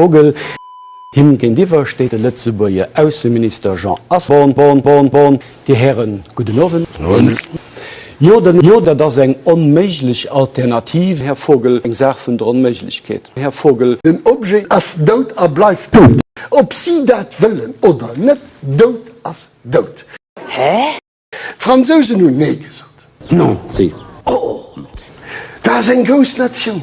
Vogel. Him géintiwwer steet de Lëtzebuerger Ausseminister Jean Asselborn. Dir Hären, gudden Owend. Jo, dat ass eng onméiglech Alternativ, Här Vogel, eng Saach vun der Onméiglechkeet, Här Vogel. Den Objet ass dout a bleift dout, ob si dat wëllen oder net. Dout ass dout. Hä? D'Fransousen hunn Nee gesot. Non, si. Oh, dat ass eng grouss Natioun.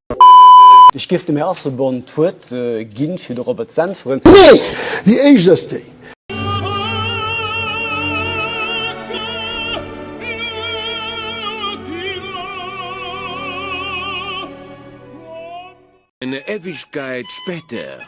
Ech géif dem Här Asselborn d'Wuert gi fir dorobber z'äntweren. Nee! Déi éischt ass déi. Eine Ewigkeit später.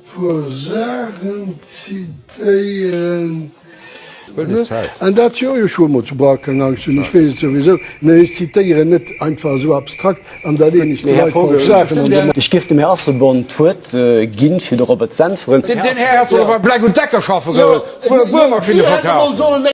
Puer Saachen zitéieren. An dat jo, jo ech hu mol zu Bauer keng Angscht hunn, ech weess et souwisou, mä ech zitéieren net einfach esou abstrakt an da leen ech de Leit falsch Saachen an de Mond. Ech géif dem Här Asselborn d'Wuert ginn, fir de Robert z'äntweren. Deen Här hätt solle bei Bleck und Decker schaffe goen, wou e Buermaschinne verkaaft.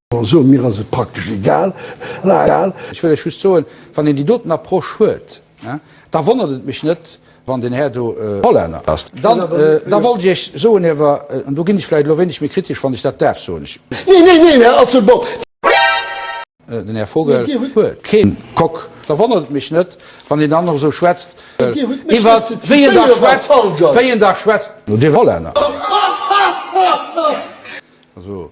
Also mir ass et praktesch egal. Ech wëll lech just soen, wann een déi doten Approche huet, da wonnert et mech net, wann deen Här do Hollänner ass. Da wollt ech Iech soen awer, an do ginn ech vläicht elo e wéineg méi kritesch, wann ech dat däerf soen, Neen, neen, neen, Här Asselborn! Den Här Vogel huet keen Coq. Da wonnert et mech net, wann een dann nach esou schwätzt iwwer wéi een da schwätzt, wéi een da schwätzt, no deem Hollänner. Also.